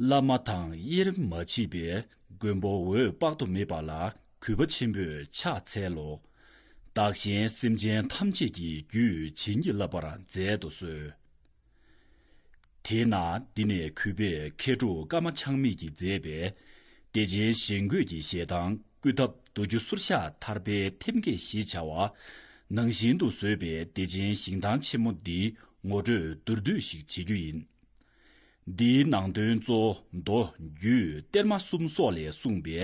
བླ་མ་དང་དབྱེར་མ་མཆིས་པའི་མགོན་པོ་འོད་དཔག་ཏུ་མེད་པ་ལ་གུས་པ་ཆེན་པོས་ཕྱག་འཚལ་ལོ། བདག་གཞན་སེམས་ཅན་ཐམས་ཅད་ཀྱི་རྒྱུད་ཇི་སྙེད་བསླབ་པར་མཛད་དུ་གསོལ། དེས་ན་འདི་ནས་གུས་པས་མཁས་གྲུབ་ཀརྨ་ཆགས་མེད་ཀྱིས་མཛད་པའི། བདེ་ཆེན་གཞན་འགོད་ཀྱི་ཞལ་ཐང་བསྐུལ་ཐབས་མདོ་སྒྱུ་ཟུར་ཤ་ཐར་པའི་ཐེམ་སྐས་ཞེས་བྱ་བ། ནང་བཞིན་དུ་བཟོས་པའི་བདེ་ཆེན་ཞིང་ཐང་ཆེན་མོ་འདིའི་ངོ་སྤྲོད་མདོར་བསྡུས་ཤིག་བྱེད་རྒྱུ་ཡིན། འདིའི་ནང་དོན་གཙོ་བོ་མདོ་སྒྱུ་གཏེར་མ་གསུམ་སོགས་ལས་གསུངས་པའི་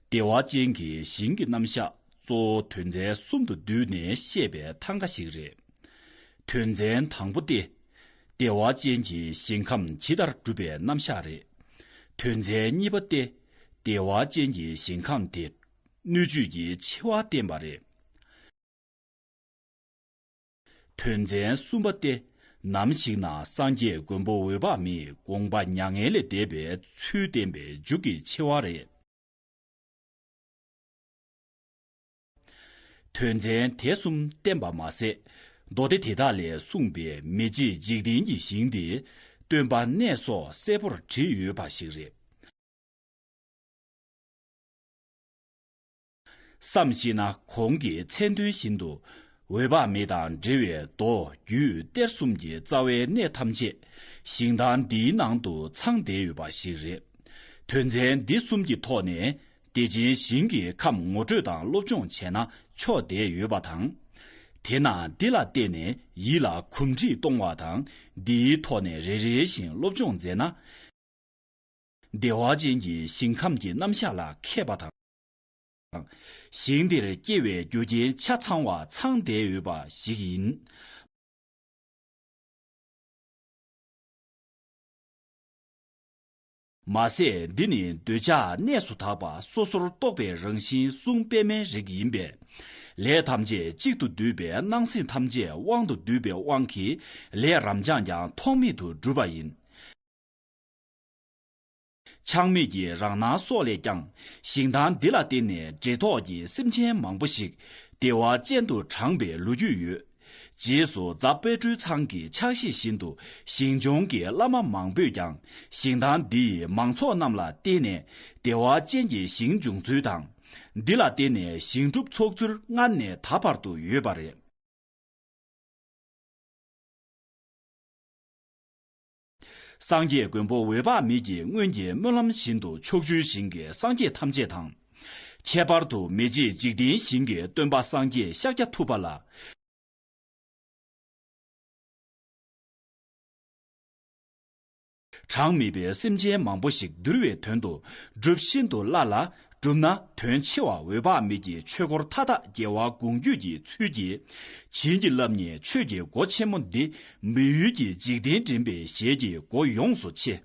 བདེ་བ་ཅན་གྱི་ཞིང་གི་རྣམ་གཞག་གཙོ་བོ་དོན་ཚན་གསུམ་དུ་བསྡུས་ནས་བཤད་པའི་ཐང་ག་ཞིག་རེད། དོན་ཚན་དང་པོ་སྟེ། བདེ་བ་ཅན་གྱི་ཞིང་ཁམས་ཇི་ལྟར་གྲུབ་པའི་རྣམ་གཞག་རེད། དོན་ཚན་གཉིས་པ་སྟེ། བདེ་བ་ཅན་གྱི་ཞིང་ཁམས་དེ། སྣོད་བཅུད་ཀྱི་ཆེ་བ་བསྟན་པ་རེད། དོན་ཚན་གསུམ་པ་སྟེ། ནམ་ཞིག་ན་སངས་རྒྱས་མགོན་པོ་འོད་དཔག་མེད་དགོངས་པ་མྱ་ངན་ལས་འདས་པའི་ཚུལ་བསྟན་པའི་མཇུག་གི་ཆེ་བ་རེད། དོན་ཚན་དེ་གསུམ་བསྟན་པ་མ་ཟད། མདོ་སྡེ་དེ་དག་ལས་གསུངས་པའི་མི་མཇེད་འཇིག་རྟེན་གྱི་ཞིང་དེ། སྟོན་པ་གནས་སོགས་གསལ་པོར་བྲིས་ཡོད་པ་ཞིག་རེད། བསམ་གཞིག་ན་གོང་གི་མཚན་དོན་བཞིན་དུ། འོད་དཔག་མེད་དང་འབྲེལ་བའི་མདོ་རྒྱུད་གཏེར་གསུམ་གྱི་རྩ་བའི་གནད་ཐམས་ཅད། ཞིང་ཐང་འདིའི་ནང་དུ་ཚང་བསྡད་ཡོད་པ་ཞིག་རེད། དོན་ཚན་འདི་གསུམ་གྱི་ཐོག་ནས་བདེ་ཆེན་ཞིང་གི་ཁམས་ངོ་སྤྲོད་དང་སློབ་སྦྱོང་བྱས་ན་ཆོག་བསྡད་ཡོད་པ་དང། དེ་ན་འདི་ལ་བལྟས་ནས་ཡིད་ལ་གོམས་འདྲིས་གཏོང་བ་དང་འདིའི་ཐོག་ནས་རེ་རེ་བཞིན་སློབ་སྦྱོང་མཛད་ན། བདེ་བ་ཅན་གྱི་ཞིང་ཁམས་ཀྱི་རྣམ་གཞག་ལ་མཁས་པ་དང། ཞིང་དེར་སྐྱེ་བའི་རྒྱུ་རྐྱེན་ཆ་ཚང་བ་ཚང་བསྡད་ཡོད་པ་ཞིག་ཡིན། མ་ཟད་འདི་ནི་འདོད་ཆགས་གནས་སུ་དག་པ་སོ་སོར་རྟོག་པའི་རང་བཞིན་གསུང་པདྨའི་རིགས་ཡིན་པས། ལས་ཐམས་ཅད་གཅིག་ཏུ་བསྡུས་པས་སྣང་སྲིད་ཐམས་ཅད་དབང་དུ་བསྡུས་པའི་དབང་གིས་ལས་རབ་འབྱངས་ཀྱང་ཐོགས་མེད་དུ་འགྲུབ་པ་ཡིན། ཆགས་མེད་ཀྱི་རང་སྣང་སོགས་ལས་ཀྱང་ཞིང་ཐང་འདི་ལ་བརྟེན་ནས་འབྲེལ་ཐོགས་ཀྱི་སེམས་ཅན་མང་པོ་ཞིག་བདེ་བ་ཅན་དུ་དྲངས་པའི་ལོ་རྒྱུས་ཡོད། རྗེས་སུ་རྫ་དཔལ་སྤྲུལ་ཚང་གི་ཕྱག་བཞེས་བཞིན་དུ་ཞིང་ལྗོངས་ཀྱི་བླ་མ་མང་པོས་ཀྱང་ཞིང་ཐང་འདི་ཡི་མང་ཚོགས་རྣམས་ལ་བརྟེན་ནས་བདེ་བ་ཅན་གྱི་ཞིང་འབྱུང་ཚུལ་དང། འདི་ལ་བརྟེན་ནས་ཞིང་སྒྲུབ་ཚོགས་ཚུལ་སྔར་ནས་ད་བར་དུ་ཡོད་པ་རེད། སངས་རྒྱས་མགོན་པོ་འོད་དཔག་མེད་ཀྱི་སྔོན་གྱི་སྨོན་ལམ་བཞིན་དུ་ཕྱོགས་བཅུའི་ཞིང་གི་སངས་རྒྱས་ཐམས་ཅད་དང། ཁྱད་པར་དུ་མི་མཇེད་འཇིག་རྟེན་ཞིང་གི་སྟོན་པ་སངས་རྒྱས་ཤཱཀྱ་ཐུབ་པ་ལ། གྲངས་མེད་པའི་སེམས་ཅན་མང་པོ་ཞིག་འདུལ་བའི་དོན་དུ་སྒྲུབས་ཤིན་ཏུ་སླ་ལ། བསྒྲུབས་ན་དོན་ཆེ་བ་འོད་དཔག་མེད་ཀྱི་ཆོས་འཁོར་མཐའ་དག་རྒྱལ་བ་དགོངས་བརྒྱུད་ཀྱི་ཚུལ་གྱིས་བྱིན་གྱིས་བརླབས་ནས་ཆོས་ཀྱི་སྒོ་ཆེན་མོ་འདི་མི་ཡུལ་གྱི་འཇིག་རྟེན་འདྲེན་པའི་ཞལ་གྱི་སྒོ་ཡོངས་སུ་ཕྱེ།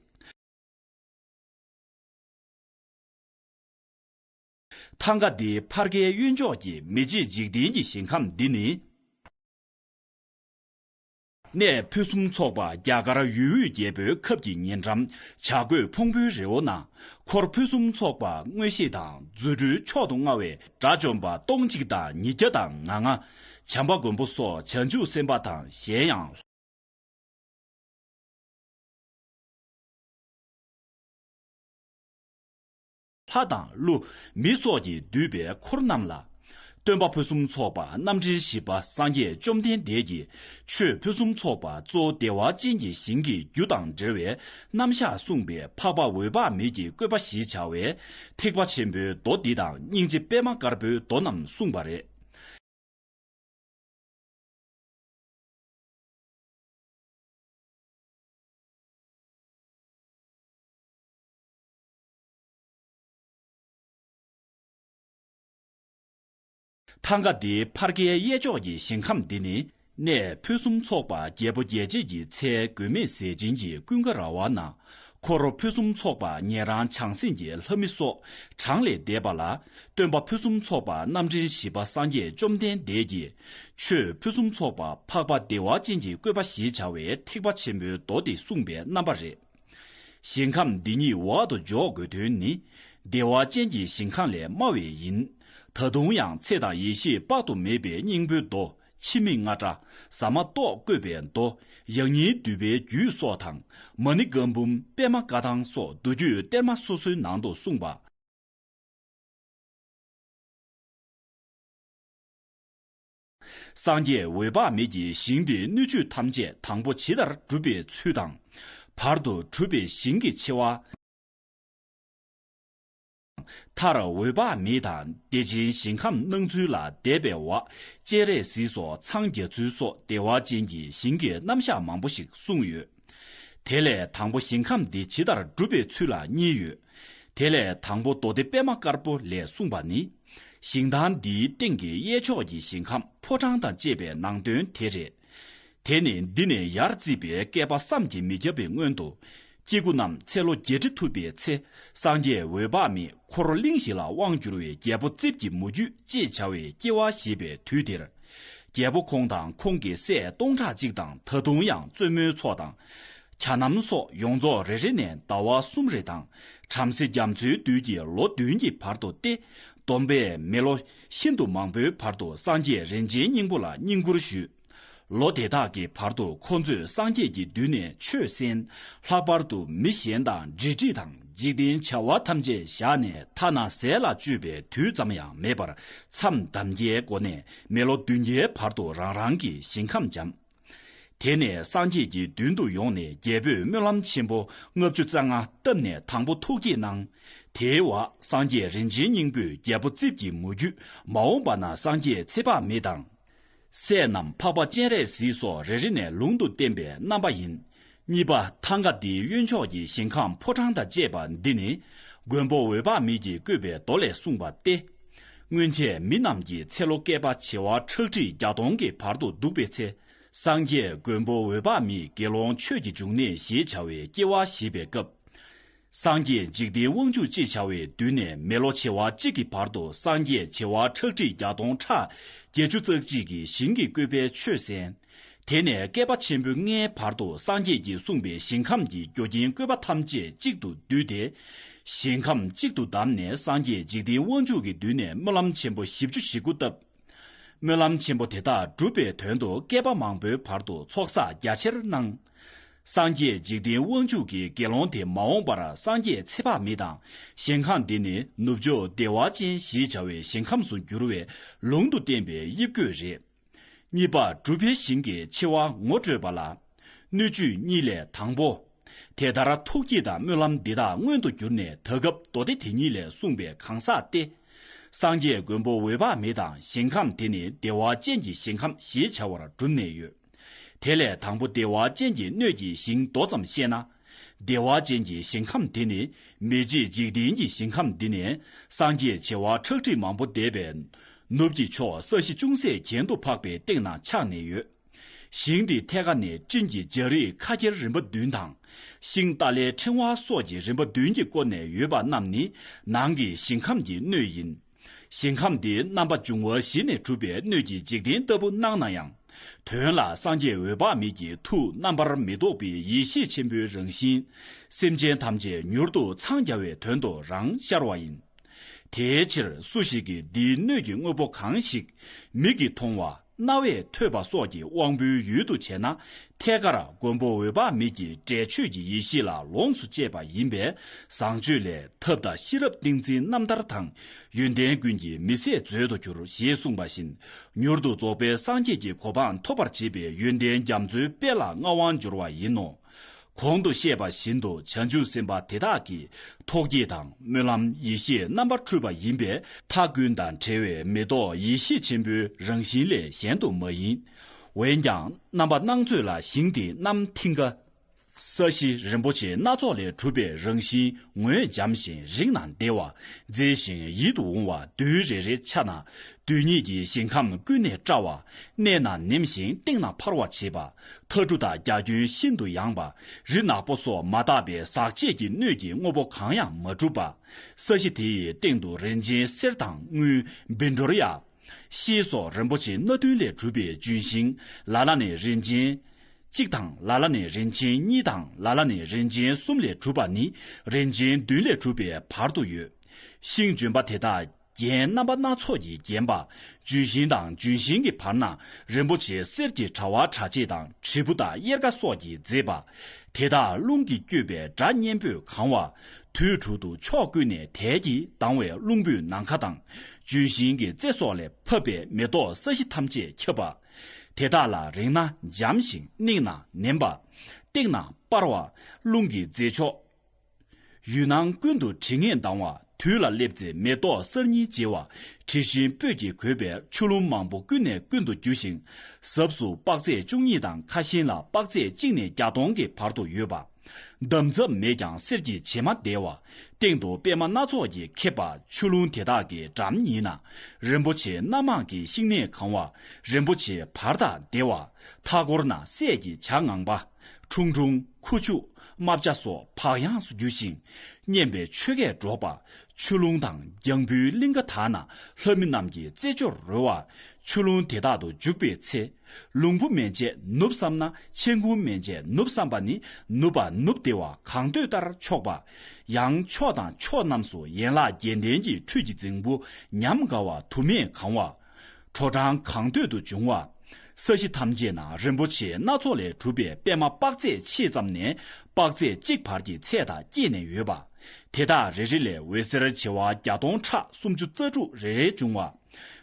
ཐང་ག་འདི་ཕར་ཁའི་གཡོན་ཕྱོགས་ཀྱི་མི་མཇེད་འཇིག་རྟེན་གྱི་ཞིང་ཁམས་འདི་ནི། གནས་ཕུན་སུམ་ཚོགས་པ་རྒྱ་གར་ཡུལ་དབུས་རྒྱལ་པོའི་ཁབ་ཀྱི་ཉེ་འགྲམ་བྱ་རྒོད་ཕུང་པོའི་རི་བོ་ན་འཁོར་ཕུན་སུམ་ཚོགས་པ་མངོན་ཤེས་དང་རྫུ་འཕྲུལ་མཆོག་ཏུ་མངའ་བའི་དགྲ་བཅོམ་པ་སྟོང་གཅིག་དང་ཉིས་བརྒྱ་དང་ང་ལྔ། བྱམས་པ་མགོན་པོ་སོགས་བྱང་ཆུབ་སེམས་དཔའ་དང་གཞན་ཡང། ལྷ་དང་ཀླུ་མི་སོགས་ཀྱིས་བསྡུས་པའི་འཁོར་རྣམས་ལ། སྟོན་པ་ཕུན་སུམ་ཚོགས་པ་རྣམ་འདྲེན་བཞི་པ་སངས་རྒྱས་བཅོམ་ལྡན་འདས་ཀྱིས་ཆོས་ཕུན་སུམ་ཚོགས་པ་གཙོ་བདེ་བ་ཅན་གྱི་ཞིང་གི་རྒྱུ་དང་འབྲེལ་བའི་རྣམ་གཞག་གསུངས་པས་འཕགས་པ་འོད་དཔག་མེད་ཀྱི་བཀོད་པ་ཞེས་བྱ་བའི་ཐེག་པ་ཆེན་པོའི་མདོ་འདི་དང་སྙིང་རྗེ་པད་མ་དཀར་པོའི་མདོ་རྣམས་གསུངས་པ་རེད། ཐང་ག་འདིའི་ཕར་ཁའི་གཡས་ཕྱོགས་ཀྱི་ཞིང་ཁམས་འདི་ནི་གནས་ཕུན་སུམ་ཚོགས་པ་རྒྱལ་པོ་རྒྱལ་བྱེད་ཀྱི་ཚལ་དགོས་མེད་ཟས་སྦྱིན་གྱི་ཀུན་དགའ་ར་བ་ན་འཁོར་རོ་ཕུན་སུམ་ཚོགས་པ་ཉན་རང་བྱང་སེམས་ཀྱི་ལྷ་མི་སོགས་གྲངས་ལས་འདས་པ་ལ་སྟོན་པ་ཕུན་སུམ་ཚོགས་པ་རྣམ་འདྲེན་བཞི་པ་སངས་རྒྱས་བཅོམ་ལྡན་འདས་ཀྱིས་ཆོས་ཕུན་སུམ་ཚོགས་པ་འཕགས་པ་བདེ་བ་ཅན་གྱི་བཀོད་པ་ཞེས་བྱ་བའི་ཐེག་པ་ཆེན་པོའི་མདོ་སྡེ་གསུངས་པའི་རྣམ་པ་རེད། ཞིང་ཁམས་འདི་ཉིད་འོག་ཏུ་འཇོག་དགོས་དོན་ནི། བདེ་བ་ཅན་གྱི་ཞིང་ཁམས་ལས་དམའ་བས་ཡིན། ད་དུང་ཡང་ཚེ་དང་ཡེ་ཤེས་དཔག་ཏུ་མེད་པའི་སྙིང་པོའི་མདོ་འཆི་མེད་རྔ་སྒྲ་ཟ་མ་ཏོག་བཀོད་པའི་མདོ། ཡང་སྙིང་བསྡུས་པའི་རྒྱུད་སོགས་དང་མ་ཎི་བཀའ་འབུམ་པདྨ་བཀའ་ཐང་སོགས་མདོ་རྒྱུད་གཏེར་མ་སོ་སོའི་ནང་དུ་གསུངས་པ། སངས་རྒྱས་འོད་དཔག་མེད་ཀྱི་ཞིང་དེའི་སྣོད་བཅུད་ཐམས་ཅད་དང་པོ་ཇི་ལྟར་གྲུབ་པའི་ཚུལ་དང། བར་དུ་གྲུབ་པའི་ཞིང་གི་ཆེ་བ། མཐར་འོད་དཔག་མེད་དང་བདེ་ཆེན་ཞིང་ཁམས་སྣང་ཚུལ་ལ་དད་པའི་བ་ཅད་རས་གཟིགས་སོགས་འཚང་རྒྱ་ཚུལ་སོགས་བདེ་བ་ཅན་གྱི་ཞིང་གི་རྣམ་གཞག་མང་པོ་ཞིག་གསུངས་ཡོད། དེ་ལས་དང་པོ་ཞིང་ཁམས་འདི་ཇི་ལྟར་སྒྲུབ་པའི་ཚུལ་ལ་གཉིས་ཡོད་དེ། ལས་དང་པོ་མདོ་སྡེ་པདྨ་དཀར་པོ་ལས་གསུངས་པ་ནི། ཞིང་དང་འདིའི་སྟེང་གི་གཡས་ཕྱོགས་ཀྱི་ཞིང་ཁམས་ཕོ་བྲང་དང་བཅས་པའི་ནང་དོན་དེ་རེད། དེ་ནི་འདི་ནས་ཡར་བརྩིས་པའི་བསྐལ་པ་བསམ་གྱིས་མི་ཁྱབ་པའི་སྔོན་དུ། སྐྱེ་དགུ་རྣམས་ཚེ་ལོ་བརྒྱད་ཁྲི་ཐུབ་པའི་ཚེ་སངས་རྒྱས་འོད་དཔག་མེད་འཁོར་ལོ་གླིང་བཞི་ལ་དབང་བསྒྱུར་བའི་རྒྱལ་པོ་རྩིབས་ཀྱི་མུ་ཁྱུད་ཅེས་བྱ་བའི་སྐྱེ་བ་བཞེས་པའི་དུས་དེར། རྒྱལ་པོ་ཁོང་དང་ཁོང་གི་སྲས་སྟོང་ཕྲག་གཅིག་དང་ད་དུང་ཡང་བཙུན་མོའི་ཚོགས་དང། གྱ་རྣམས་སོགས་ཡོངས་རྫོགས་རེ་རེ་ནས་ཟླ་བ་གསུམ་རེ་དང་བྲམ་ཟེ་རྒྱ་མཚོའི་རྡུལ་གྱི་ལོ་བདུན་གྱི་བར་དུ་སྟེ། བསྡོམས་པས་མི་ལོ་ཤིན་ཏུ་མང་པོའི་བར་དུ་སངས་རྒྱས་རིན་ཆེན་སྙིང་པོ་ལ་བསྙེན་བཀུར་ཞུས། ལོ་དེ་དག་གི་བར་དུ་ཁོ་ཚོས་སངས་རྒྱས་ཀྱི་མདུན་ནས་ཆོས་གསན། ལྷག་པར་དུ་མི་གཞན་དང་འབྲེལ་འདྲིས་དང། འཇིག་རྟེན་བྱ་བ་ཐམས་ཅད་བཞག་ནས་ཐ་ན་ཟས་ལ་སྤྱོད་པའི་དུས་ཙམ་ཡང་མེད་པར་མཚམས་འདམ་རྒྱའི་སྒོ་ནས་མི་ལོ་བདུན་བརྒྱའི་བར་དུ་རང་རང་གི་ཞིང་ཁམས་འབྱམས། དེ་ནས་སངས་རྒྱས་ཀྱི་མདུན་དུ་ཡོང་ནས་རྒྱལ་པོས་སྨོན་ལམ་ཆེན་པོ་ལྔ་བཅུ་རྩ་ལྔ་བཏབ་ནས་དང་པོ་ཐུགས་བསྐྱེད་གནང། དེའི་བར་སངས་རྒྱས་རིན་ཆེན་སྙིང་པོས་རྒྱལ་པོ་རྩིབས་ཀྱི་མུ་ཁྱུད་མ་འོངས་པ་ན་སངས་རྒྱས་ཚེ་དཔག་མེད་དང། སྲས་རྣམས་འཕགས་པ་སྤྱན་རས་གཟིགས་སོགས་རེ་རེ་ནས་ལུང་དུ་བསྟན་པའི་རྣམ་པ་ཡིན། གཉིས་པ་ཐང་ག་འདིའི་གཡོན་ཕྱོགས་ཀྱི་ཞིང་ཁམས་ཕོ་བྲང་དང་བཅས་པ་འདི་ནི། མགོན་པོ་འོད་དཔག་མེད་ཀྱིས་བཀོད་པའི་མདོ་ལས་གསུངས་པ་སྟེ། སྔོན་ཆད་མི་རྣམས་ཀྱི་ཚེ་ལོ་བསྐལ་པ་བྱེ་བ་ཁྲག་ཁྲིག་བརྒྱ་སྟོང་གི་བར་དུ་འདུག་པའི་ཚེ། སངས་རྒྱས་མགོན་པོ་འོད་དཔག་མེད་དགེ་སློང་ཆོས་ཀྱི་འབྱུང་གནས་ཞེས་བྱ་བའི་སྐྱེ་བ་བཞེས་པའི་སྐབས། སངས་རྒྱས་འཇིག་རྟེན་དབང་ཕྱུག་ཅེས་བྱ་བའི་མདུན་ནས་མི་ལོ་བྱེ་བ་གཅིག་གི་བར་དུ་སངས་རྒྱས་བྱེ་བ་ཁྲག་ཁྲིག་བརྒྱ་སྟོང་ཕྲག་བརྒྱད་ཅུ་རྩ་གཅིག་གི་ཞིང་གི་བཀོད་པའི་ཆོས་གསན། དེ་ནས་བསྐལ་པ་ཆེན་པོ་ལྔའི་བར་དུ་སངས་རྒྱས་ཀྱིས་གསུངས་པའི་ཞིང་ཁམས་ཀྱི་རྒྱུ་རྐྱེན་བཀོད་པ་ཐམས་ཅད་གཅིག་ཏུ་བསྡུས་ཏེ། ཞིང་ཁམས་གཅིག་ཏུ་བསྡམས་ནས་སངས་རྒྱས་འཇིག་རྟེན་དབང་ཕྱུག་གི་མདུན་ནས་སྨོན་ལམ་ཆེན་པོ་བཞི་བཅུ་བཞི་དགུ་བཏབ། སྨོན་ལམ་ཆེན་པོ་དེ་དག་བསྒྲུབ་པའི་དོན་དུ་བསྐལ་པ་མང་པོའི་བར་དུ་ཚོགས་བསགས་རྒྱ་ཆེར་གནང། སངས་རྒྱས་འཇིག་རྟེན་དབང་ཕྱུག་གི་དགེ་སློང་དེ་མ་འོངས་པར་སངས་རྒྱས་ཚེ་དཔག་མེད་དང་ཞིང་ཁམས་འདི་ནི་ནུབ་ཕྱོགས་བདེ་བ་ཅན་ཞེས་བྱ་བའི་ཞིང་ཁམས་སུ་འགྱུར་བའི་ལུང་དུ་བསྟན་པའི་དབྱིབས་བཀོད་རེད། གཉིས་པ་གྲུབ་པའི་ཞིང་གི་འཆི་བ་ངོ་སྤྲོད་པ་ལ། སྣོད་བཅུད་གཉིས་ལས་དང་པོ། དེ་ལྟར་ཐུགས་བསྐྱེད་དང་སྨོན་ལམ་འདི་དག་མངོན་དུ་གྱུར་ནས་ད་སྐབས་མདོ་སྡེ་དེ་ཉིད་ལས་གསུངས་པའི་གང་ཟག་སྟེ། སངས་རྒྱས་མགོན་པོ་འོད་དཔག་མེད་དང་ཞིང་ཁམས་དེ་ནི་བདེ་བ་ཅན་གྱི་ཞིང་ཁམས་ཞེས་བྱ་བར་གྲུབ་ནས་ཡོད། དེ་ལས་དང་པོ་བདེ་བ་ཅན་གྱི་སྣོད་ཀྱི་ཞིང་མདོ་ཙམ་བཤད་ན། བདེ་བ་ཅན་གྱི་ཞིང་ཁམས་དེ་ནི་མི་མཇེད་འཇིག་རྟེན་གྱི་ཞིང་ཁམས་འདི་ནས་སངས་རྒྱས་བྱེ་བ་ཁྲག་ཁྲིག་མང་པོ་འདས་པའི། ནུབ་ཀྱི་ཕྱོགས་ས་གཞི་ཅུང་ཟད་གྱེན་དུ་འཕགས་པའི་སྟེང་ན་ཆགས་ནས་ཡོད། ཞིང་འདི་ཐད་ཀ་ནས་སྤྲིན་གྱི་འཇའ་རིས་ཁ་ཁྱེར་རིམ་པ་བདུན་དང། ཤིང་རྟ་ལའི་ཕྲེང་བ་སོགས་ཀྱི་རིམ་པ་བདུན་གྱིས་བསྐོར་ནས་ཡོད་པ་རྣམས་ནི་ནང་གི་ཞིང་ཁམས་ཀྱི་སྣོད་ཡིན། ཞིང་ཁམས་འདི་རྣམ་པ་འབྱུང་བ་བཞི་ནས་གྲུབ་པའི་སྣོད་ཀྱི་འཇིག་རྟེན་ལྟ་བུ་སྣང་ན་ཡང། དོན་ལ་སངས་རྒྱས་འོད་དཔག་མེད་ཀྱི་ཐུགས་རྣམ་པར་མི་རྟོག་པའི་ཡེ་ཤེས་ཆེན་པོའི་རང་བཞིན། སེམས་ཅན་ཐམས་ཅད་མྱུར་དུ་འཚང་རྒྱ་བའི་དོན་དུ་རང་ཤར་བ་ཡིན། དེའི་ཕྱིར་སུ་ཞིག་གིས་འདིའི་སྣོད་ཀྱི་དངོས་པོ་གང་ཞིག་མིག་གིས་མཐོང་བ། རྣ་བས་ཐོས་པ་སོགས་ཀྱི་དབང་པོའི་ཡུལ་དུ་བྱས་ན་ཐད་ཀར་མགོན་པོ་འོད་དཔག་མེད་ཀྱི་སྒྲས་ཆོས་ཀྱི་ཡེ་ཤེས་ལ་ལོངས་སུ་སྤྱད་པ་ཡིན་པས་བཟང་སྤྱོད་ལས་ཐབས་དང་ཤེས་རབ་ཏིང་འཛིན་རྣམ་ཐར་དང་ཡོན་ཏན་ཀུན་གྱི་མི་ཟད་མཛོད་དུ་གྱུར་ཞེས་གསུངས་པ་བཞིན་མྱུར་དུ་རྫོགས་པའི་སངས་རྒྱས་ཀྱི་གོ་འཕང་ཐོབ་པར་བྱེད་པའི་ཡོན་ཏན་རྒྱ་མཚོའི་དཔལ་ལ་མངའ་དབང་འབྱོར་བ་ཡིན་ནོ། གོང་དུ་བཤད་པ་བཞིན་དུ་བྱང་ཆུབ་སེམས་དཔའ་དེ་དག་གིས་ཐོག་རྒྱས་དང་སྨོན་ལམ་ཡེ་ཤེས་རྣམ་པར་འཕྲུལ་པ་ཡིན་པས་མཐའ་ཀུན་དང་བྲལ་བའི་མེ་ཏོག་ཡེ་ཤེས་ཆེན་པོའི་རང་བཞིན་ལས་གཞན་དུ་མ་ཡིན། འོན་ཀྱང་རྣམ་པ་སྣང་ཚོད་ལ་ཞིང་དེ་རྣམས་མཐིང་ག། ས་གཞི་རིན་པོ་ཆེ་སྣ་ཚོགས་ལས་གྲུབ་པའི་རང་བཞིན་ངོས་འཇམ་ཞིང་རིག་ན་བདེ་བ་མཛེས་ཤིང་ཡིད་དུ་འོང་བ་རྡུལ་རེ་རེ་ཆགས་ན་རྡུལ་སྙེད་ཀྱི་ཞིང་ཁམས་ཀུན་ནས་བཀྲ་བ། གནས་ན་ནེམ་ཞིང་སྟེང་ན་འཕར་བར་བྱེད་པ། ཐ་གྲུ་དང་རྒྱ་ཁྱོན་ཤིན་ཏུ་ཡངས་པ། རི་ནག་པོ་སོགས་མ་དག་པའི་ཟག་བཅས་ཀྱི་སྣོད་ཀྱི་དངོས་པོ་གང་ཡང་མ་གྲུབ་པ། ས་གཞི་དེ་ཡི་སྟེང་དུ་རིན་ཆེན་གསེར་དང་དངུལ། བིལ་འབྲོར་ཡ། ཤེལ་སོགས་རིན་པོ་ཆེ་སྣ་བདུན་ལས་གྲུབ་པའི་ལྗོན་ཤིང། ལ་ལ་ནས་རིན་ཆེན། གཅིག་དང་ལ་ལ་ནས་རིན་ཆེན་གཉིས་དང་ལ་ལ་ནས་རིན་ཆེན་གསུམ་ལས་གྲུབ་པ་ནི་རིན་ཆེན་བདུན་ལས་གྲུབ་པའི་བར་དུ་ཡོད། ཤིང་ལྗོན་པ་དེ་དག། རྒྱན་རྣམ་པ་སྣ་ཚོགས་ཀྱིས་བརྒྱན་པ། ལྗོན་ཤིང་དང་ལྗོན་ཤིང་གི་བར་ན་རིན་པོ་ཆེ་གསེར་གྱི་དྲ་བ་དྲྭ་ཕྱེད་དང་དྲིལ་བུ་དང་གཡེར་ཀ་སོགས་ཀྱིས་མཛེས་པ། དེ་དག་རླུང་གིས་བསྐྱོད་པའི་སྒྲ་སྙན་པོས་གང་བ། དུས་དྲུག་ཏུ་ཕྱོགས་ཀུན་ནས་དལ་གྱིས་ལྡང་བའི་རླུང་བུས་ནམ་མཁའ་དང། ལྗོན་ཤིང་གི་རྩེ་སོགས་ལས་ཕབ་པས་མེ་ཏོག་ས་གཞི་ཐམས་ཅད་ཁྱབ་པ། དེ་དག་ལ་རེག་ན་འཇམ་ཞིང་སྣེགས་ན་ནེམ་པ། བཏེགས་ན་སྤར་བ། རླུང་གི་རྫས་མཆོག། ཡུལ་སྣང་ཀུན་ཏུ་དྲི་ངད་ལྡང་བ་དུས་ལ་སླེབ་ཚེ་མེ་ཏོག་གསར་རྙིང་བརྗེ་བ་དྲི་ཞིམ་སྤོས་ཀྱིས་གོས་པའི་ཆུ་ཀླུང་མང་པོ་ཀུན་ནས་ཀུན་ཏུ་རྒྱུ་ཞིང། ཟབས་སུ་དཔག་ཚད་བཅུ་གཉིས་དང་ཁ་ཞེང་ལ་དཔག་ཚད་གཅིག་ནས་བརྒྱ་སྟོང་གི་བར་དུ་ཡོད་པ། འདམ་རྫབ་མེད་ཀྱང་གསེར་གྱི་བྱེ་མ་བརྡལ་བ། སྟེང་དུ་པད་མ་སྣ་ཚོགས་ཀྱིས་ཁེབས་པ་ཆུ་ཀླུང་དེ་དག་གི་འགྲམ་ཉིད་ན། རིན་པོ་ཆེ་སྣ་མང་གི་ཤིང་ནད་གང་བ་རིན་པོ་ཆེའི་བར་དག་བརྡལ་བ། མཐའ་སྐོར་ན་སྲས་ཀྱི་བྱ་ངང་པ། ཁྲུང་ཁྲུང། ཁུ་བྱུག། རྨ་བྱ་སོགས་བག་ཡངས་སུ་རྒྱུ་ཞིང། སྙན་པའི་ཆོས་སྐད་སྒྲོག་པ། ཆུ་ཀླུང་དང་རྒྱང་བུའི་གླིང་ག་དག་ན་ལྷ་མི་རྣམས་ཀྱི་རྩེད་འཇོར་རོལ་བ། ཆུ་ཀླུང་དེ་དག་ཏུ་འཇུག་པའི་ཚེ། ལུང་བུ་མན་ཆད་ནུབ་བསམས་ན་མཆན་ཁུང་མན་ཆད་ནུབ་བསམས་པ་ནི་ནུབ་པ་ནུབ་བདེ་བ་གང་འདོད་ལྟར་ཆོག་པ། ཡང་ཕྱོགས་དང་ཕྱོགས་རྣམས་སུ་ཡན་ལག་བརྒྱད་ལྡན་གྱི་ཁྲུས་ཀྱི་རྫིང་བུ་ཉམས་དགའ་བ་དུ་མས་གང་བ། དྲོ་གྲང་གང་འདོད་དུ་འབྱུང་བ། ས་གཞི་ཐམས་ཅད་ན་རིན་པོ་ཆེ་སྣ་ཚོགས་ལས་གྲུབ་པའི་པདྨ་དཔག་ཚད་ཕྱེད་ཙམ་ནས་དཔག་ཚད་གཅིག་བར་གྱི་ཚད་དག་བསྐྱེད་ནས་ཡོད་པ། དེ་དག་རེ་རེ་ལས་འོད་ཟེར་བྱེ་བ་བརྒྱ་སྟོང་ཕྲག་སུམ་ཅུ་རྩ་དྲུག་རེ་རེ་འབྱུང་བ།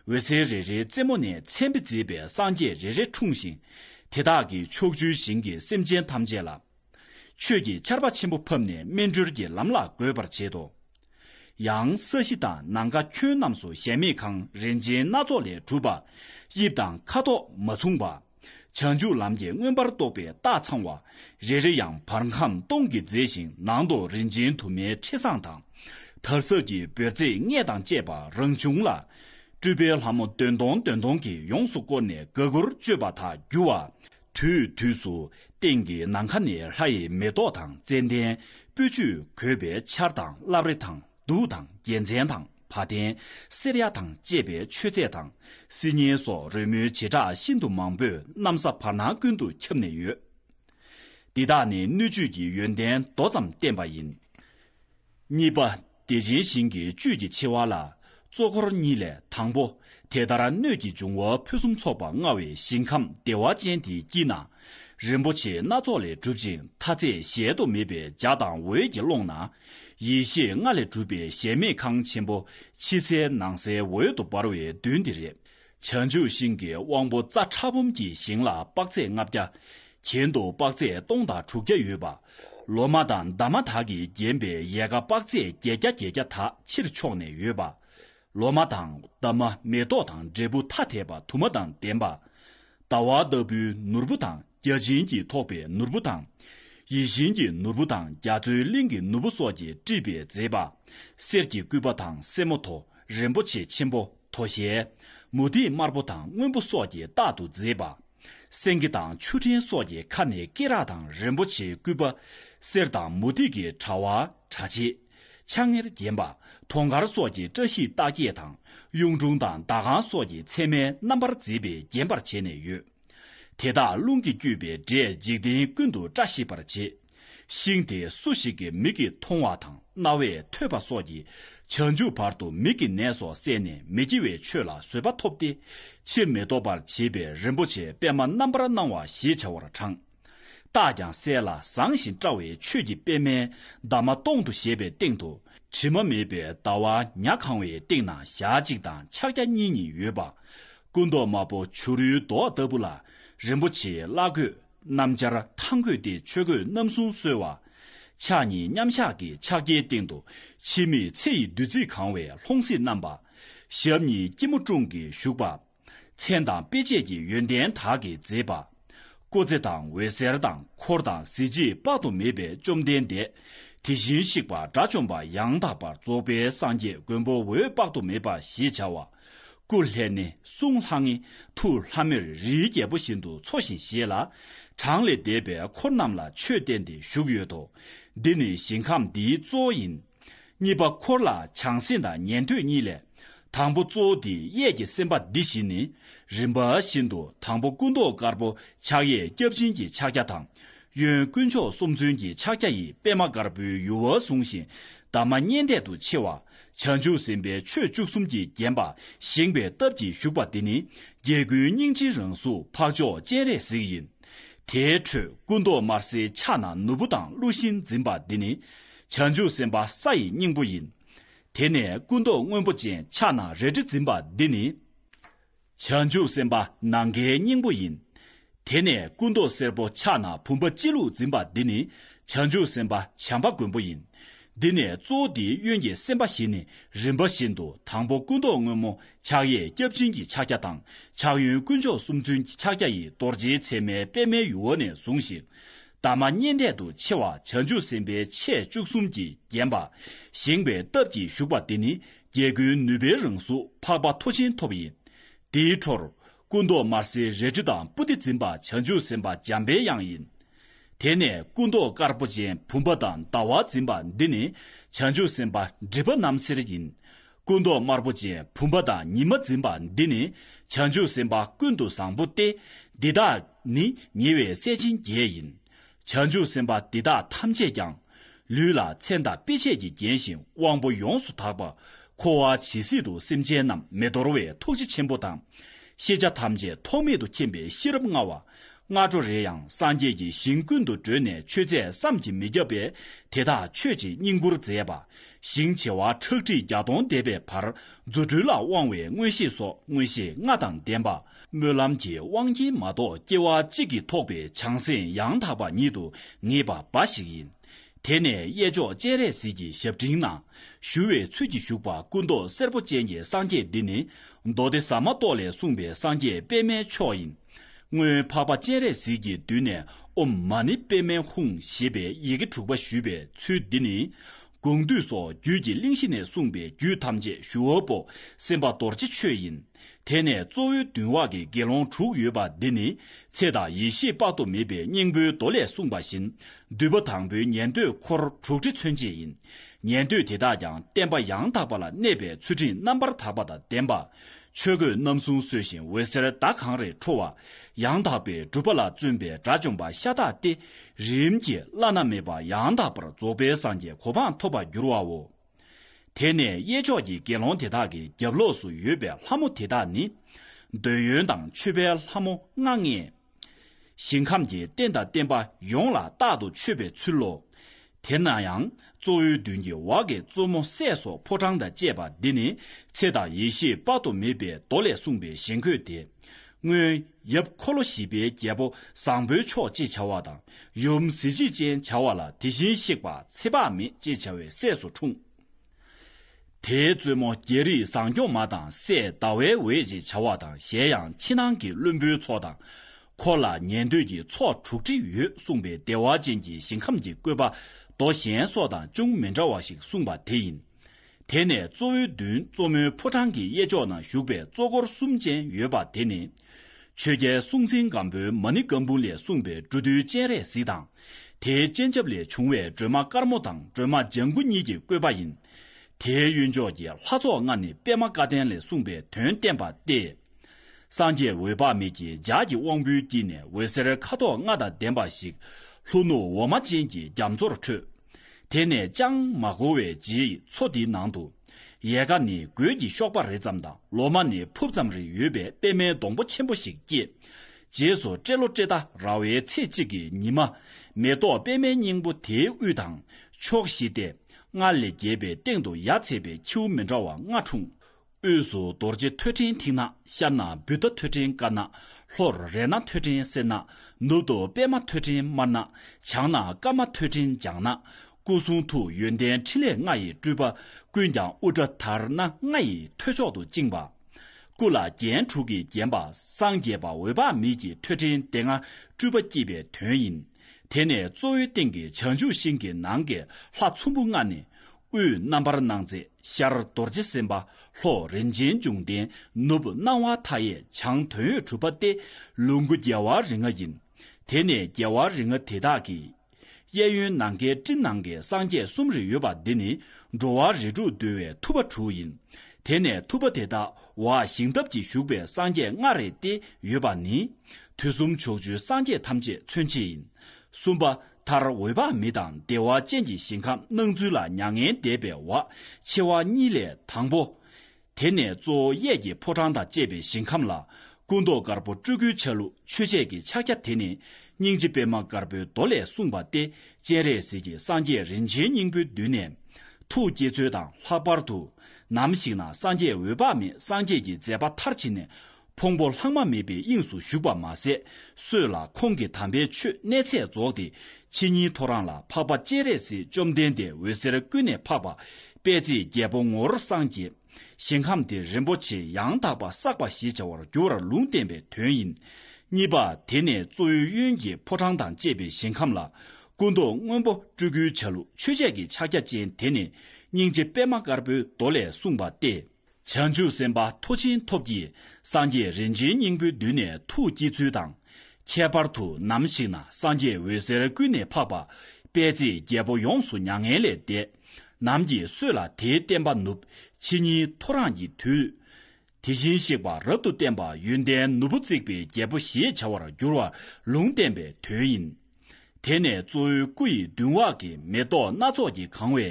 འོད་ཟེར་རེ་རེའི་རྩེ་མོ་ནས་མཚན་དཔེ་མཛེས་པའི་སངས་རྒྱས་རེ་རེ་འཁྲུངས་ཤིང། དེ་དག་གིས་ཕྱོགས་བཅུའི་ཞིང་གི་སེམས་ཅན་ཐམས་ཅད་ལ། ཆོས་ཀྱི་ཆར་པ་ཆེན་པོ་ཕབ་ནས་སྨིན་གྲོལ་གྱི་ལམ་ལ་འགོད་པར་བྱེད་དོ། ཡང་ས་གཞི་དང་ནང་ཁ་ཁྱོན་རྣམས་སུ་གཞལ་མེད་ཁང་རིན་ཆེན་སྣ་ཚོགས་ལས་གྲུབ་པ། དབྱིབས་དང་ཁ་དོག་མ་མཚུངས་པ། བྱང་ཆུབ་ལམ་གྱི་མངོན་པར་རྟོགས་པའི་རྟགས་ཚང་བ། རེ་རེ་ཡང་བར་ཁམས་སྟོང་གིས་མཛེས་ཤིང་ནང་དུ་རིན་ཆེན་དུ་མའི་ཁྲི་བཟང་དང། དར་ཟབ་ཀྱི་འབོལ་བརྩེགས་ལྔས་དང་བཅས་པ་རང་བྱུང་ལ། སྤྲུལ་པའི་ལྷ་མོ་བདུན་སྟོང་བདུན་སྟོང་གིས་ཡོངས་སུ་བསྐོར་ནས་དགའ་མགུར་སྤྱོད་པ་དག་རྒྱུ་བ། དུས་དུས་སུ་སྟེང་གི་ནམ་མཁའ་ནས་ལྷ་ཡི་མེ་ཏོག་དང་ཙནྡན་སྤོས་ཆུས་གོས་པའི་ཆར་དང་རླབས་རི་དང་གདུགས་དང་རྒྱལ་མཚན་དང་བ་དན་སེར་ཡག་དང་བཅས་པའི་མཆོད་རྫས་དང་སིལ་སྙན་སོགས་རོལ་མོའི་བྱེ་བྲག་ཤིན་ཏུ་མང་པོས་གནམ་ས་བར་སྣང་ཀུན་ཏུ་ཁྱབ་ནས་ཡོད། འདི་དག་ནི་སྣོད་བཅུད་ཀྱི་ཡོན་ཏན་མདོ་ཙམ་བསྟན་པ་ཡིན། གཉིས་པ། བདེ་ཆེན་ཞིང་གི་བཅུད་ཀྱི་ཆེ་བ་ལ། གཙོ་འཁོར་གཉིས་ལས་དང་པོ། དེ་ལྟར་སྣོད་ཀྱི་འབྱུང་བ་ཕུན་སུམ་ཚོགས་པ་མངའ་བའི་ཞིང་ཁམས་བདེ་བ་ཅན་དེའི་དཀྱིལ་ན། རིན་པོ་ཆེ་སྣ་ཚོགས་ལས་གྲུབ་ཅིང་མཐའ་ཚད་གཞལ་དུ་མེད་པའི་འཇའ་དང་འོད་ཀྱི་ཀློང་ན། ཡེ་ཤེས་ལྔ་ལས་གྲུབ་པའི་གཞལ་མེད་ཁང་ཆེན་པོ་ཕྱི་གསལ་ནང་གསལ་འོད་དུ་འབར་བའི་མདུན་དེ་རེད། བྱང་ཆུབ་ཤིང་གི་དབང་པོ་རྩ་ཕྲ་འབུམ་གྱི་ཞིང་ལ་དཔག་ཚད་ལྔ་བརྒྱ། གྱེན་དུ་དཔག་ཚད་སྟོང་དང་དྲུག་བརྒྱ་ཡོད་པ། ལོ་མ་དང་འདབ་མ་དག་གིས་བརྒྱན་པའི་ཡལ་ག་དཔག་ཚད་བརྒྱད་བརྒྱ་བརྒྱད་བརྒྱ་དག་ཕྱིར་ཕྱོགས་ནས་ཡོད་པ། ལོ་མ་དང་འདབ་མ་མེ་ཏོག་དང་འབྲས་བུ་ཐ་དད་པ་དུ་མ་དང་ལྡན་པ། ཟླ་བ་ལྟ་བུའི་ནོར་བུ་དང་བརྒྱ་བྱིན་གྱིས་ཐོགས་པའི་ནོར་བུ་དང། ཡིད་བཞིན་གྱི་ནོར་བུ་དང་རྒྱ་མཚོའི་གླིང་གི་ནོར་བུ་སོགས་ཀྱིས་དཀྲིས་པའི་མཛེས་པ། གསེར་གྱི་སྐུད་པ་དང་སེར་མོ་ཐོ་རེངས་པོ་ཆེ་ཆེན་པོ། དོ་ཤལ། མུ་ཏིག་དམར་པོ་དང་སྔོན་པོ་སོགས་ཀྱིས་རྟག་ཏུ་མཛེས་པ། སེང་གེ་དང་ཆུ་ཕྲན་སོགས་ཀྱི་ཁ་ནས་སྐེ་རགས་དང་རིན་པོ་ཆེའི་སྐུད་པ། གསེར་དང་མུ་ཏིག་གི་དྲ་བ། དྲ་ཕྱེད། ཆ་ལྔེར་བརྒྱན་པ། དོང་གར་སོགས་ཀྱི་བཀྲ་ཤིས་རྟགས་བརྒྱད་དང་གཡུང་དྲུང་དང་ཟླ་ཁང་སོགས་ཀྱི་མཚན་མའི་རྣམ་པར་མཛེས་པས་བརྒྱན་པར་བྱས་ནས་ཡོད། དེ་དག་རླུང་གིས་བསྐྱོད་པའི་སྒྲས་འཇིག་རྟེན་ཀུན་ཏུ་བཀྲ་ཤིས་པར་བྱེད། ཤིང་དེ་སུ་ཞིག་གི་མིག་གིས་མཐོང་བ་དང་རྣ་བས་ཐོས་པ་སོགས་ཀྱིས་བྱང་ཆུབ་བར་དུ་མིག་གི་ནད་སོགས་བསལ་ནས་མི་སྐྱེ་བའི་ཆོས་ལ་བཟོད་པ་ཐོབ་སྟེ། ཕྱིར་མི་ལྡོག་པར་བྱེད་པའི་རིན་པོ་ཆེ་པད་མ་རྣམ་པར་སྣང་བ་ཞེས་བྱ་བར་དྲངས། རྟགས་ཀྱང་གསལ་ལ་བཟང་ཞིང་བཀྲ་བའི་ཆོས་ཀྱི་པད་མའི་འདབ་མ་སྟོང་དུ་བཞད་པའི་སྟེང་དུ་དྲི་མ་མེད་པའི་ཟླ་བ་ཉག་གང་བའི་སྟེང་ན་ཞག་གཅིག་དང་ཕྱག་རྒྱ་གཉིས་གཉིས་ཡོད་པ། སྐུ་མདོག་དམར་པོ་བྱུ་རུའི་མདོག་ལྟ་བུ་ལ་རིན་པོ་ཆེའི་བླ་གོས། སྣམ་སྦྱར་ཐང་བཀོད་དེ་ཆོས་གོས་རྣམ་གསུམ་གསོལ་བ། ཕྱག་གཉིས་མཉམ་གཞག་གི་ཕྱག་རྒྱའི་སྟེང་དུ་འཆི་མེད་ཚེ་ཡི་བདུད་རྩིས་གང་བའི་ལྷུང་བཟེད་བསྣམས་པ། ཞབས་གཉིས་སྐྱིལ་མོ་ཀྲུང་གིས་བཞུགས་པ། མཚན་དང་དཔེ་བྱད་ཀྱི་ཡོན་ཏན་དག་གིས་མཛེས་པ། སྐུ་ཚེ་དང་འོད་ཟེར་དང་འཁོར་དང་གཟི་བརྗིད་དཔག་ཏུ་མེད་པས་བཅོམ་ལྡན་འདས་དེ་བཞིན་གཤེགས་པ་དགྲ་བཅོམ་པ་ཡང་དག་པར་རྫོགས་པའི་སངས་རྒྱས་མགོན་པོ་འོད་དཔག་ཏུ་མེད་པ་ཞེས་བྱ་བ། སྐུ་ལྷས་ནི་གསུང་ལྷ་ངེ། ཐུགས་ལྷ་མོས་རིའི་རྒྱལ་པོ་བཞིན་དུ་འཚོ་ཞིང་གཞེས་ལ། གྲངས་ལས་འདས་པའི་འཁོར་རྣམས་ལ་ཆོས་བསྟན་ཏེ་བཞུགས་ཡོད་དོ། འདི་ནི་ཞིང་ཁམས་འདིའི་གཙོ་བོ་ཡིན། གཉིས་པ་འཁོར་ལ་བྱང་སེམས་དང་ཉན་ཐོས་གཉིས་ལས། དང་པོ་གཙོ་བོ་འདི་གཡས་ཀྱི་སེམས་དཔའ་འདི་བཞི་ནི། རིམ་པ་བཞིན་དུ་དང་པོ་སྐུ་མདོག་དཀར་པོ་ཕྱག་གཡས་སྐྱབས་སྦྱིན་གྱི་ཕྱག་རྒྱ་དང། གཡོན་དཀོན་མཆོག་གསུམ་མཚོན་གྱི་ཕྱག་རྒྱ་ཡིས་པདྨ་དཀར་པོའི་ཡུ་བ་བཟུང་ཞིང་འདབ་མ་སྙན་འདེད་དུ་མཆེ་བ། བྱང་ཆུབ་སེམས་དཔའི་ཆོས་བཅུ་གསུམ་གྱིས་བརྒྱན་པ་བཞེངས་པའི་སྟབས་ཀྱིས་བཞུགས་པ་འདི་ནི་རྒྱལ་ཀུན་སྙིང་རྗེའི་རང་གཟུགས་འཕགས་མཆོག་སྤྱན་རས་གཟིགས་ཡིན། དེའི་ཁྲོད་སྐུ་མདོག་དམར་སེར་ཕྱག་ན་ནོར་བུ་དང་ཀླུ་ཤིང་འཛིན་པ་འདི་ནི་བྱང་ཆུབ་སེམས་དཔའ་ས་ཡི་སྙིང་པོ་ཡིན། དེ་ནས་སྐུ་མདོག་སྔོན་པོ་ཅན་ཕྱག་ན་རལ་གྲི་འཛིན་པ་འདི་ནི། བྱང་ཆུབ་སེམས་དཔའ་ནམ་མཁའི་སྙིང་པོ་ཡིན། དེ་ནས་སྐུ་མདོག་སེར་པོ་ཕྱག་ན་བུམ་པ་སྤྱི་བླུགས་འཛིན་པ་འདི་ནི་བྱང་ཆུབ་སེམས་དཔའ་བྱམས་པ་མགོན་པོ་ཡིན། འདི་ནས་གཙོ་བོ་འདིའི་གཡོན་གྱི་སེམས་དཔའ་བཞི་ནི་རིམ་པ་བཞིན་དུ་དང་པོ་སྐུ་མདོག་སྔོན་མོ་ཕྱག་གཡས་སྐྱབས་སྦྱིན་གྱི་ཕྱག་རྒྱ་དང་ཕྱག་གཡོན་དཀོན་མཆོག་གསུམ་མཚོན་གྱི་ཕྱག་རྒྱ་ཡིས་རྡོ་རྗེའི་མཚན་མའི་པདྨའི་ཡུ་བོ་ནས་བཟུང་ཞིང། འདབ་མ་སྙེད་འཐད་དུ་ཕྱེ་བ་བྱང་ཆུབ་སེམས་དཔའི་ཆས་བཅུ་གསུམ་གྱིས་བརྒྱན་པ། བཞེངས་པའི་སྟབས་ཀྱིས་བཞུགས་པ་འདི་ནི་རྒྱལ་ཀུན་ནུས་པའི་རང་གཟུགས་འཕགས་པ་མཐོ་ཆེན་ཐོབ་ཡིན། དེའི་འཕྲོར། སྐུ་མདོག་དམར་སེར་རལ་གྲི་དང་པུ་སྟི་འཛིན་པ་བྱང་ཆུབ་སེམས་དཔའ་འཇམ་དཔལ་དབྱངས་ཡིན། དེ་ནས་སྐུ་མདོག་དཀར་པོ་ཅན་བུམ་པ་དང་ཟླ་བ་འཛིན་པ་འདི་ནི་བྱང་ཆུབ་སེམས་དཔའ་སྒྲིབ་པ་རྣམ་སེལ་ཡིན། སྐུ་མདོག་དམར་པོ་ཅན་བུམ་པ་དང་ཉི་མ་འཛིན་པ་འདི་ནི་བྱང་ཆུབ་སེམས་དཔའ་ཀུན་ཏུ་བཟང་པོ་སྟེ། འདི་དག་ནི་ཉེ་བའི་སྲས་བྱིན་རྒྱལ་ཡིན། བྱང་ཆུབ་སེམས་དཔའ་འདི་དག་ཐམས་ཅད་ཀྱང། ལུས་ལ་མཚན་དང་དཔེ་བྱད་ཀྱིས་བརྒྱན་ཞིང་དབང་པོ་ཡོངས་སུ་དག་པ། འཁོར་བ་ཇི་སྲིད་དུ་སེམས་ཅན་རྣམས་མི་འདོར་བའི་ཐུགས་རྗེ་ཆེན་པོ་དང། ཤེས་བྱ་ཐམས་ཅད་ཐོགས་མེད་དུ་མཁྱེན་པའི་ཤེས་རབ་མངའ་བ། སྔ་དྲོ་རེ་ཡང་སངས་རྒྱས་ཀྱི་ཞིང་ཀུན་ཏུ་བགྲོད་ནས་ཆོས་མཛད་བསམ་གྱིས་མི་ཁྱབ་པས་དེ་དག་མཆོད་ཅིང་བསྙེན་བཀུར་མཛད་པ། ཞིང་བྱེ་བ་ཁྲག་ཁྲིག་བརྒྱ་སྟོང་འདས་པའི་བར་རྫུ་འཕྲུལ་ལ་དབང་བའི་མངོན་ཤེས་སོགས་མངོན་ཤེས་ལྔ་དང་ལྡན་པ། སྨོན་ལམ་གྱི་དབང་གིས་མ་གཏོགས་སྐྱེ་བ་གཅིག་གིས་ཐོགས་པའི་བྱང་སེམས་ཡང་དག་པ་ཉིད་དུ་ངེས་པ་འབའ་ཞིག་ཡིན། དེ་ནས་གཡས་ཕྱོགས་སྤྱན་རས་གཟིགས་ཀྱི་ཞབས་འབྲིང་ན། ཞུ་བའི་ཚུལ་གྱིས་བཞུགས་པ་སྐུ་མདོག་སེར་པོ་ཅན་གྱི་སངས་རྒྱས་འདི་ནི། མདོ་སྡེ་ཟ་མ་ཏོག་ལས་གསུངས་པའི་སངས་རྒྱས་པདྨའི་མཆོག་ཡིན། སྔོན་འཕགས་པ་སྤྱན་རས་གཟིགས་ཀྱི་མདུན་ནས་ཨོམ་མ་ནི་པདྨའི་ཧཱུྃ་ཞེས་པའི་ཡི་གེ་དྲུག་པ་ཞུས་པའི་ཚུལ་འདི་ནི། དགོངས་འདུས་སོགས་རྒྱུད་ཀྱི་གླིང་བཞི་ནས་གསུངས་པའི་རྒྱུད་ཐམས་ཅད་ཞུའོ་པོ་སེམས་དཔའ་རྡོ་རྗེ་ཆོས་ཡིན། དེ་ནས་གཙོ་བོའི་མདུན་བྷ་གའི་དགེ་སློང་དྲུག་ཡོད་པ་འདི་ནི་ཚེ་དང་ཡེ་ཤེས་དཔག་ཏུ་མེད་པའི་སྙིང་པོའི་མདོ་ལས་གསུངས་པ་བཞིན་བསྡུས་པ་དང་པོའི་ཉན་ཐོས་འཁོར་དྲུག་ཁྲི་མཚོན་བྱེད་ཡིན། ཉན་ཐོས་དེ་དག་ཀྱང་བསྟན་པ་ཡང་དག་པ་ལ་གནས་པའི་ཚུལ་ཁྲིམས་རྣམ་པར་དག་པ་དང་ལྡན་པ། ཆོས་གོས་རྣམ་གསུམ་གསོལ་ཞིང་འོད་ཟེར་ཟླ་གང་རེ་འཕྲོ་བ། ཡང་དག་པའི་སྒྲུབ་པ་ལ་བརྩོན་པའི་དགྲ་བཅོམ་པ་ཤ་སྟག་སྟེ། རིམ་གྱིས་བླ་ན་མེད་པ་ཡང་དག་པར་རྫོགས་པའི་སངས་རྒྱས་གོ་འཕང་ཐོབ་པར་འགྱུར་བའོ། དེ་ནས་གཡས་ཕྱོགས་ཀྱི་དགེ་སློང་དེ་དག་གི་རྒྱབ་ལོགས་སུ་ཡོད་པའི་ལྷ་མོ་དེ་དག་ནི། འདོད་ཡོན་དང་མཆོད་པའི་ལྷ་མོ་ལྔ་ལྔས། ཞིང་ཁམས་ཀྱི་རྟེན་དང་བརྟེན་པ་ཡོངས་ལ་རྟག་ཏུ་མཆོད་པའི་ཚུལ་ལོ། དེ་ན་ཡང་གཙོ་བོའི་མདུན་གྱི་འོག་གི་གཙོ་མོ་སྲས་སོགས་ཕོ་བྲང་དང་བཅས་པ་འདི་ནི་ཚེ་དང་ཡེ་ཤེས་དཔག་ཏུ་མེད་པའི་མདོ་ལས་གསུངས་པའི་ཞེན་འཁོས་ཏེ། སྔོན་ཡབ་འཁོར་ལོ་བཞི་པའི་རྒྱལ་པོ་བཟང་པོའི་མཆོག་ཅེས་བྱ་བ་དང་ཡུམ་གཟི་བརྗིད་ཅན་བྱ་བ་ལ་དེ་བཞིན་གཤེགས་པ་ཚེ་དཔག་མེད་ཅེས་བྱ་བའི་སྲས་སུ་འཁྲུངས། དེའི་གཙོ་མོ་རྒྱལ་རིགས་བཟང་སྐྱོང་མ་དང་སྲས་ཟླ་བའི་འོད་ཅེས་བྱ་བ་དང་གཞན་ཡང་ཕྱི་ནང་གི་བློན་པོའི་ཚོགས་དང། འཁོར་ལ་ཉན་ཐོས་ཀྱི་ཚོགས་དྲུག་ཁྲི་ཡོད་གསུངས་པའི་བདེ་བ་ཅན་གྱི་ཞིང་ཁམས་ཀྱི་བཀོད་པ་མདོ་གཞན་སོགས་དང་ཅུང་མི་འདྲ་བ་ཞིག་གསུངས་པ་དེ་ཡིན། དེ་ནས་གཙོ་བོའི་མདུན་གཙོ་མོའི་ཕོ་བྲང་གི་གཡས་ཕྱོགས་ན་བཞུགས་པའི་གཙོ་འཁོར་གསུམ་ཅན་ཡོད་པ་དེ་ནི། ཆོས་རྒྱལ་གསུང་འཛིན་སྒམ་པོའི་མ་ཎི་སྒམ་པོ་ལས་གསུངས་པའི་འབྲུ་བདུན་སྤྱན་རས་གཟིགས་དང། དེའི་སྤྱན་ཆབ་ལས་བྱུང་བའི་སྒྲོལ་མ་དཀར་མོ་དང་སྒྲོལ་མ་ལྗང་གུ་གཉིས་ཀྱི་བཀོད་པ་ཡིན། དེའི་གཡོན་ཕྱོགས་ཀྱི་ལྷ་ཚོགས་ལྔ་ནི་པདྨ་བཀའ་བསྟན་ལས་གསུངས་པའི་དོན་བསྟན་པ་སྟེ། སངས་རྒྱས་འོད་དཔག་མེད་ཀྱི་ལྗགས་ཀྱི་དབང་པོའི་དཀྱིལ་ནས་འོད་ཟེར་ཁ་དོག་ལྔ་དང་ལྡན་པ་ཞིག་ལྷོ་ནུབ་འོ་མ་ཅན་གྱི་རྒྱ་མཚོར་འཕྲོས། དེ་ནས་ཅང་མ་འགོར་བའི་རྗེས་མཚོ་དེའི་ནང་དུ། ཡལ་ག་ནི་གོས་ཀྱི་གཤོག་པ་རེ་ཙམ་དང་ལོ་མ་ནི་ཕུབ་ཙམ་རེ་ཡོད་པའི་པད་མའི་སྡོང་པོ་ཆེན་པོ་ཞིག་སྐྱེས། རྗེས་སུ་ཏྲེ་ལོ་ཏྲེ་ད་ར་བའི་ཚེས་གཅིག་གི་ཉི་མ། མེ་ཏོག་པད་མའི་སྙིང་པོ་དེའི་དབུས་དང་ཕྱོགས་བཞི་སྟེ། སྔར་ལས་རྒྱས་པའི་སྟེང་དུ་ཡར་ཚེས་པའི་ཁྱེའུ་མི་འདྲ་བ་ལྔ་འཁྲུངས། དབུས་སུ་རྡོ་རྗེ་ཐོད་ཕྲེང་མཐིང་ནག་ཤར་ན་བུད་ད་ཐོད་ཕྲེང་དཀར་ནག་ལྷོར་རས་ནག་ཐོད་ཕྲེང་སེར་ནག་ནུབ་ཏུ་པདྨ་ཐོད་ཕྲེང་དམར་ནག་བྱང་ན་སྐར་མ་ཐོད་ཕྲེང་ལྗང་ནག་སྐུ་གསུང་ཐུགས་ཡོན་ཏན་ཕྲིན་ལས་ལྔ་ཡི་སྤྲུལ་པ་ཀུན་ཀྱང་དབུ་སྐྲ་དར་སྣ་ལྔ་ཡི་ཐོད་མཆོག་ཏུ་བཅིངས་པ། སྐུ་ལ་རྒྱན་དྲུག་གིས་བརྒྱན་པ་སངས་རྒྱས་པ་འོད་དཔག་མེད་ཀྱི་ཐོད་ཕྲེང་སྡེ་ལྔ་སྤྲུལ་པ་བསྐྱེད་པའི་དོན་ཡིན། དེ་ནས་གཙོ་བོའི་སྟེང་གི་བྱང་ཆུབ་ཤིང་གི་ནང་གི་ལྷ་ཚོམ་བུ་ལྔ་ནི་དབུས་རྣམ་པར་སྣང་མཛད་ཤར་རྡོ་རྗེ་སེམས་དཔའ་ལྷོ་རིན་ཆེན་འབྱུང་ལྡན་ནུབ་སྣང་བ་མཐའ་ཡས་བྱང་དོན་ཡོད་གྲུབ་པ་སྟེ་ལུ་གུ་རྒྱལ་བ་རིགས་ལྔ་ཡིན། དེ་ནས་རྒྱལ་བ་རིགས་ལྔ་དེ་དག་གི། གཡས་གཡོན་ནང་ཁའི་སྤྲིན་ནང་གི་སངས་རྒྱས་གསུམ་རེ་ཡོད་པ་འདི་ནི་འགྲོ་བ་རེ་དྲུག་འདུལ་བའི་ཐུབ་པ་དྲུག་ཡིན། དེ་ནས་ཐུབ་པ་དེ་དག་བ་ཞིང་ཐབས་ཀྱིས་བཞུགས་པའི་སངས་རྒྱས་ལྔ་རེ་སྟེ་ཡོད་པ་ནི། དུས་གསུམ་ཕྱོགས་བཅུའི་སངས་རྒྱས་ཐམས་ཅད་མཚོན་བྱེད་ཡིན། གསུམ་པ། མཐར་འོད་དཔག་མེད་དང་བདེ་བ་ཅན་གྱི་ཞིང་ཁམས་སྣང་ཚུལ་ལ་མྱ་ངན་འདས་པའི་བ་ཕྱེ་བ་གཉིས་ལས་དང་པོ། དེ་ནས་གཙོ་བོ་གཡས་ཀྱི་ཕོ་བྲང་དང་བཅས་པའི་ཞིང་ཁམས་ལ། སྐུ་མདོག་དཀར་པོ་སྤྲུལ་སྐུའི་ཆ་ལུགས་ཆོས་འཆད་ཀྱི་ཕྱག་རྒྱ་དེ་ནི་སྙིང་རྗེ་པད་མ་དཀར་པོའི་མདོ་ལས་གསུངས་པ་སྟེ་སྤྱན་རས་གཟིགས་ཀྱི་སངས་རྒྱས་རིན་ཆེན་སྙིང་པོའི་མདུན་ནས། ཐུགས་བསྐྱེད་ཚུལ་དང་ལྷག་པར་དུ། ནམ་ཞིག་ན་སངས་རྒྱས་འོད་དཔག་མེད་སངས་རྒྱས་ཀྱི་མཛད་པ་མཐར་ཕྱིན་ནས། ཕུང་པོ་ལྷག་མ་མེད་པའི་དབྱིངས་སུ་བཞུགས་པར་མ་ཟད་སྲོད་ལ་ཁོང་གི་དམ་པའི་ཆོས་གནས་ཚད་རྫོགས་ཏེ་ཕྱི་ཉིན་ཐོ་རངས་ལ་འཕགས་པ་སྤྱན་རས་གཟིགས་བཅོམ་ལྡན་འདས་འོད་ཟེར་ཀུན་ནས་འཕགས་པ་པད་ཚེའི་རྒྱལ་པོ་ངོར་སངས་རྒྱས། ཞིང་ཁམས་དེ་རིན་པོ་ཆེ་ཡང་དག་པ་བསགས་པ་ཞེས་བྱ་བར་འགྱུར་བར་ལུང་བསྟན་པའི་དོན་ཡིན། གཉིས་པ་དེ་ནས་གཙོ་བོའི་གཡོན་གྱི་ཕོ་བྲང་དང་བཅས་པའི་ཞིང་ཁམས་ལ་སྐུ་མདོག་སྔོན་པོ་སྤྲུལ་སྐུའི་ཆ་ལུགས་ཆོས་འཆད་ཀྱི་ཕྱག་རྒྱ་ཅན་དེ་ནི་སྙིང་རྗེ་པད་མ་དཀར་པོའི་མདོ་ལས་གསུངས་པ་སྟེ། བྱང་ཆུབ་སེམས་དཔའ་མཐོ་ཆེན་ཐོབ་ཀྱིས་སངས་རྒྱས་རིན་ཆེན་སྙིང་པོའི་མདུན་ནས་ཐུགས་བསྐྱེད་ཚུལ་དང། ཁྱད་པར་དུ་ནམ་ཞིག་ན་སངས་རྒྱས་འོད་ཟེར་ཀུན་ནས་འཕགས་པ་དཔལ་བརྩེགས་རྒྱལ་པོ་ཡོངས་སུ་མྱ་ངན་ལས་འདས། ནམ་གྱིས་གསོས་ལ་དེའི་བསྟན་པ་ནུབ། ཕྱི་ཉིན་ཐོ་རངས་ཀྱི་དུས། དེ་བཞིན་གཤེགས་པ་རབ་ཏུ་བརྟན་པ་ཡོན་ཏན་ནོར་བུ་བརྩེགས་པའི་རྒྱལ་པོ་ཞེས་བྱ་བར་འགྱུར་བ་ལུང་བསྟན་པའི་དོན་ཡིན། དེ་ནས་གཙོ་བོའི་སྐུ་ཡི་མདུན་འོག་གི་མེ་ཏོག་སྣ་ཚོགས་ཀྱིས་གང་བའི་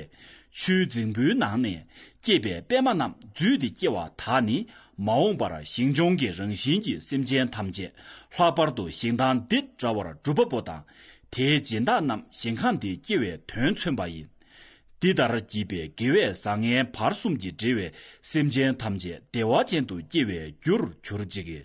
ཆུའི་རྫིང་བུའི་ནང་ནས་སྐྱེས་པའི་པད་མ་རྣམས་བརྫུས་ཏེ་སྐྱེ་བ་དག་ནི་མ་འོངས་པར་ཞིང་སྦྱོང་གི་རང་བཞིན་གྱི་སེམས་ཅན་ཐམས་ཅད་ལྷག་པར་དུ་ཞིང་དང་འདི་འདྲ་བར་སྒྲུབ་པ་པོ་དང་དེའི་སྦྱིན་བདག་རྣམས་ཞིང་ཁམས་འདི་སྐྱེ་བའི་དོན་མཚོན་པ་ཡིན། འདི་ལྟར་བགྱིས་པའི་དགེ་བས་བཟང་ངན་བར་གསུམ་གྱིས་འབྲེལ་བའི་སེམས་ཅན་ཐམས་ཅད་བདེ་བ་ཅན་དུ་སྐྱེ་བའི་རྒྱུར་གྱུར་ཅིག།